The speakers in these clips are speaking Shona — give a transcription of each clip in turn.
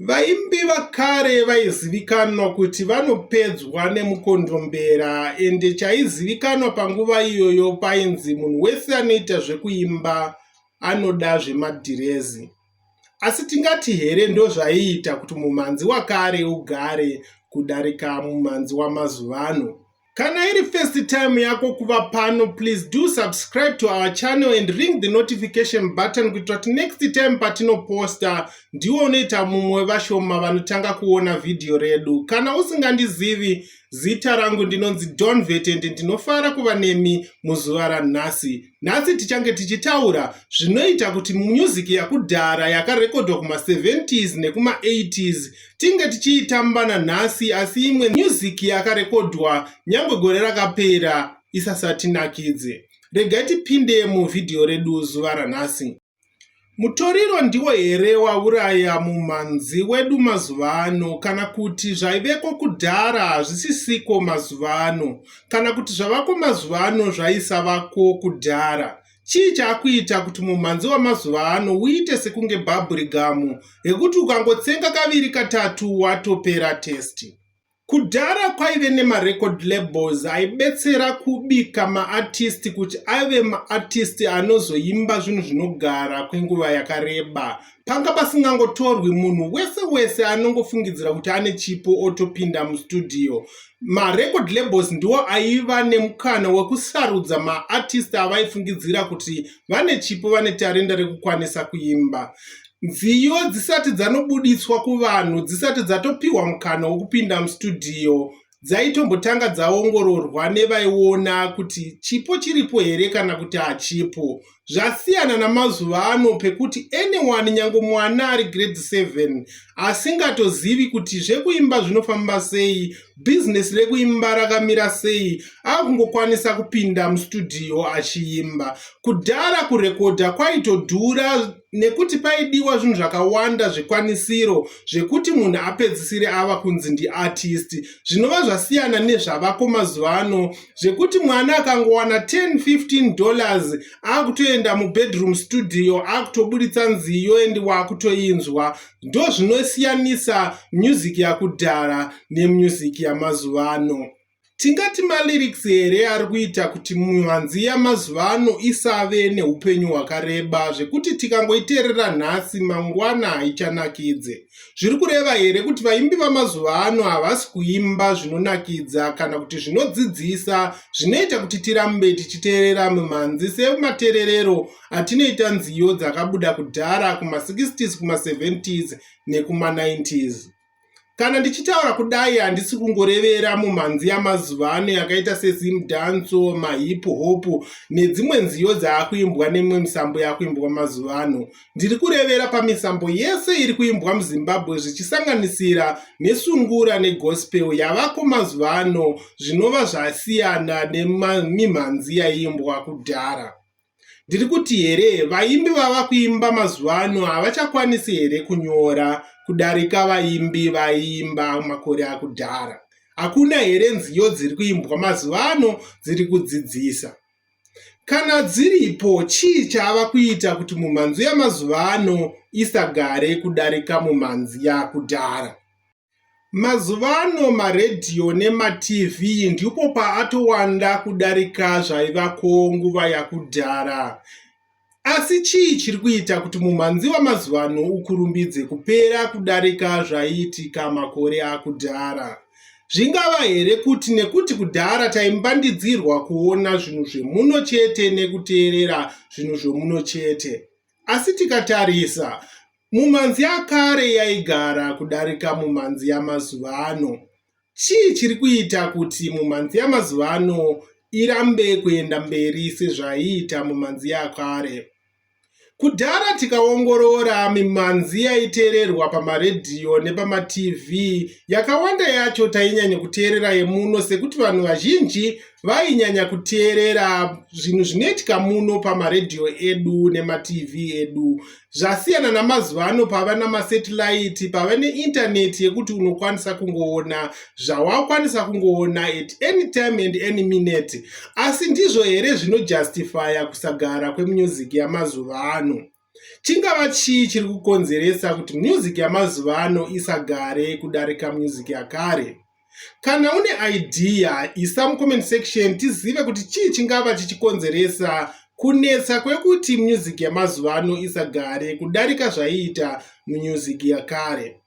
Vaimbi vakare vaizivikanwa kuti vanopedzwa nemukondombera ende chaizivikanwa panguva iyoyo painzi munhu wese anoita zvekuimba anoda zvemadhirezi. Asi tingati here ndozvaiita kuti mumhanzi wakare ugare kudarika mumhanzi wamazuvano? Kana iri first time yako kuva pano, please do subscribe to our channel and ring the notification button kuitira kuti next time patinoposta ndiwo unoita mumwe vashoma vanotanga kuona vhidhiyo redu. Kana usingandizivi, zita rangu ndinonzi Donvet and ndinofara kuva nemi muzuva ranhasi. Nhasi tichange tichitaura zvinoita kuti music yakudhara yakarekodhwa kuma 70s nekuma 80s tinge tichiitamba nanhasi asi imwe music yakarekodhwa nyangwe gore rakapera isasatinakidze. Regai tipinde muvhidhiyo redu zuva ranhasi. Mutoriro ndiwo here wauraya mumhanzi wedu mazuva ano kana kuti zvaiveko kudhara hazvisisiko mazuva ano kana kuti zvavako mazuva ano zvaisavako kudhara? Chii chaakuita kuti mumhanzi wamazuva ano uite sekunge bhabhurigamu rekuti ukangotsenga kaviri katatu watopera testi? Kudhara kwaive nemarecord labels aibetsera kubika maartist kuti ave maartist anozoimba zvinhu zvinogara kwenguva yakareba. Panga pasingangotorwi munhu wese wese anongofungidzira kuti ane chipo otopinda mustudio. Marecord labels ndiwo aiva nemukana wekusarudza maartist avaifungidzira kuti vane chipo vane tarenda rekukwanisa kuimba. Nziyo dzisati dzanobuditswa kuvanhu dzisati dzatopiwa mukana wokupinda mustudio dzaitombotanga dzaongororwa nevaiona kuti chipo chiripo here kana kuti hachipo zvasiyana namazuva ano pekuti anyone nyange mwana ari grade 7 asingatozivi kuti zvekuimba zvinofamba sei bhizinesi rekuimba rakamira sei akungokwanisa kupinda mustudio achiimba kudhara kurekodha kwaitodhura nekuti paidiwa zvinhu zvakawanda zvikwanisiro zvekuti munhu apedzisire ava kunzi ndiartist zvinova zvasiyana nezvavako mazuva ano zvekuti mwana akangowana 1015 dollars akutoenda mubedroom studio akutoburitsa nziyo endi waakutoinzwa ndo zvinosiyanisa music yakudhara nemusic yamazuva ano Tingati malyrics here ari kuita kuti mhanzi yamazuva ano isave neupenyu hwakareba zvekuti tikangoiteerera nhasi mangwana haichanakidze. Zviri kureva here kuti vaimbi vamazuva ano havasi kuimba zvinonakidza kana kuti zvinodzidzisa zvinoita kuti tirambe tichiteerera mimhanzi sematererero atinoita nziyo dzakabuda kudhara kuma60s kuma70s nekuma 90s? Kana ndichitaura kudai handisi kungorevera mumhanzi yamazuva ano yakaita sezim danso, mahip hop nedzimwe nziyo dzaakuimbwa nemimwe misambo yakuimbwa mazuva ano. Ndiri kurevera pamisambo yese iri kuimbwa muZimbabwe zvichisanganisira nesungura negospel yavako mazuva ano zvinova zvasiyana nemimhanzi yaiimbwa kudhara. ndiri kuti here vaimbi vava kuimba mazuva ano havachakwanisi here kunyora kudarika vaimbi vaiimba makore akudhara hakuna here nziyo dziri kuimbwa mazuva ano dziri kudzidzisa kana dziripo chii chaava kuita kuti mumhanzi yamazuva ano isagare kudarika mumhanzi yakudhara Mazuva ano maredhiyo nemaTV ndipo paatowanda kudarika zvaivako nguva yakudhara. Asi chii chiri kuita kuti mumhanzi wamazuva ano ukurumbidze kupera kudarika zvaiitika makore akudhara? Zvingava here kuti nekuti kudhara taimbandidzirwa kuona zvinhu zvemuno chete nekuteerera zvinhu zvemuno chete? Asi tikatarisa Mumhanzi yakare yaigara kudarika mumhanzi yamazuva ano. Chii chiri kuita kuti mumhanzi yamazuva ano irambe kuenda mberi sezvaiita mumhanzi yakare? Kudhara tikaongorora mimhanzi yaiteererwa pamaredhiyo nepamaTV, yakawanda yacho tainyanya kuteerera yemuno sekuti vanhu vazhinji vainyanya kuteerera zvinhu zvinoitika muno pamaredhiyo edu nemaTV edu. zvasiyana namazuva ano pava namasetilaiti pava neintaneti yekuti unokwanisa kungoona zvawakwanisa kungoona at any time and any minute asi ndizvo here zvinojustifya kusagara kwemusic yamazuva ano chingava chii chiri kukonzeresa kuti music yamazuva ano isagare kudarika music yakare Kana une idea, isa mucomment section tizive kuti chii chingava chichikonzeresa kunetsa kwekuti music yamazuva ano isagare kudarika zvaiita music yakare.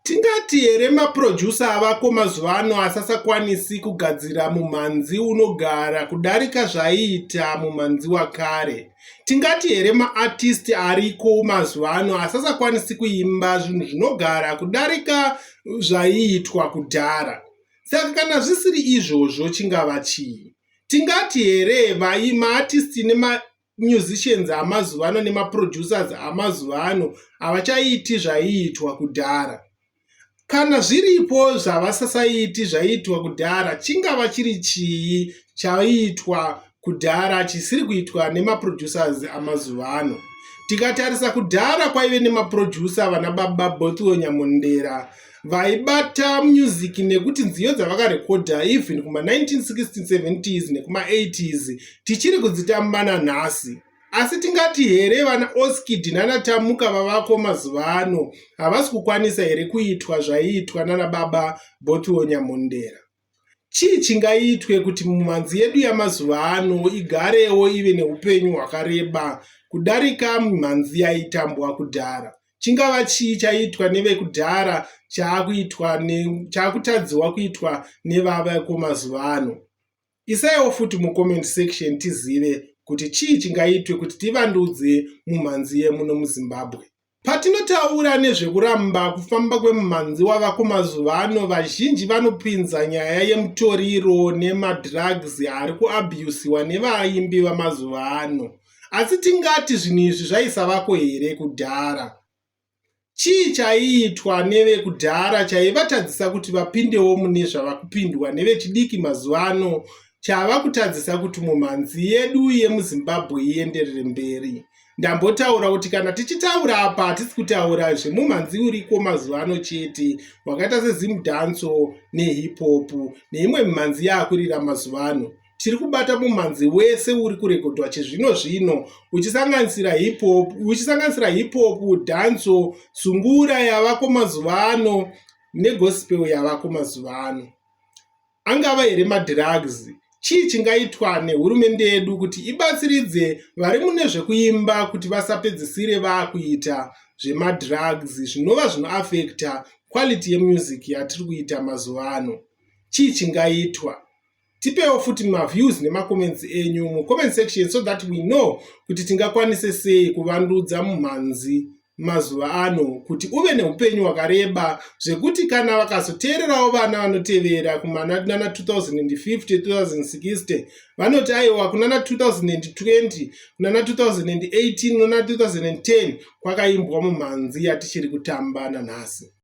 Tingati here maproducer avako mazuva ano asasakwanisi kugadzira mumhanzi unogara kudarika zvaiita mumhanzi wakare? Tingati here maartisti ariko mazuva ano asasakwanisi kuimba zvinhu zvinogara kudarika zvaiitwa kudhara? Saka kana zvisiri izvozvo chingava chii? Tingati here vai maartisti nemamusicians amazuva ano nemaproducers amazuva ano havachaiiti zvaiitwa kudhara? Kana zviripo zvavasasaiti zvaiitwa kudhara, chingava chiri chii chaiitwa kudhara chisiri kuitwa nemaproducers amazuva ano? Tikatarisa kudhara kwaive nemaproducer vana baba Bothiwe Nyamondera vaibata music nekuti nziyo dzavakarekodha even kuma 1960s 70s nekuma 80s tichiri kudzitambana nhasi. Asi tingati here vana Oskidi nana Tamuka vavako mazuva ano havasi kukwanisa here kuitwa zvaiitwa nana baba Bothiwo Nyamhondera? Chii chingaitwe kuti mumhanzi yedu yamazuva ano igarewo ive neupenyu hwakareba kudarika mhanzi yaitambwa kudhara? Chingava chii chaitwa nevekudhara chaakutadziwa kuitwa nevavako mazuva ano? Isaiwo futi mucomment section tizive kuti chii chingaitwe kuti tivandudze mumhanzi yemuno muzimbabwe. Patinotaura nezvekuramba kufamba kwemumhanzi wavako mazuva ano, vazhinji vanopinza nyaya yemutoriro nemadrugs ari kuabusiwa nevaimbi vamazuva ano. Asi tingati zvinhu izvi zvaisavako here kudhara? Chii chaiitwa nevekudhara chaivatadzisa kuti vapindewo mune zvava kupindwa nevechidiki mazuva ano chava kutadzisa kuti mumhanzi yedu yemuzimbabwe ienderere mberi ndambotaura kuti kana tichitaura apa hatisi kutaura zvemumhanzi uriko mazuva ano chete wakaita sezimdanso nehipopu neimwe mimhanzi yaakurira mazuva ano tiri kubata mumhanzi wese uri kurekodhwa chizvino zvino uchisanganisira hiphop uchisanganisira hiphop dhanso sungura yavako mazuva ano negospel yavako mazuva ano angava here madrugs chii chingaitwa nehurumende yedu kuti ibatsiridze vari mune zvekuimba kuti vasapedzisire vakuita zvemadrugs zvinova zvinoafekta quality yemusic yatiri kuita mazuva ano chii chingaitwa tipewo futi maviews nemacomments enyu mucomment section so that we know kuti tingakwanise sei kuvandudza mumhanzi mazuva ano kuti uve neupenyu hwakareba zvekuti kana vakazoteererawo vana vanotevera kumana 2050 2060 vanoti aiwa kunana 2020 kunana 2018 kunana 2010 kwakaimbwa mumhanzi yatichiri kutamba nanhasi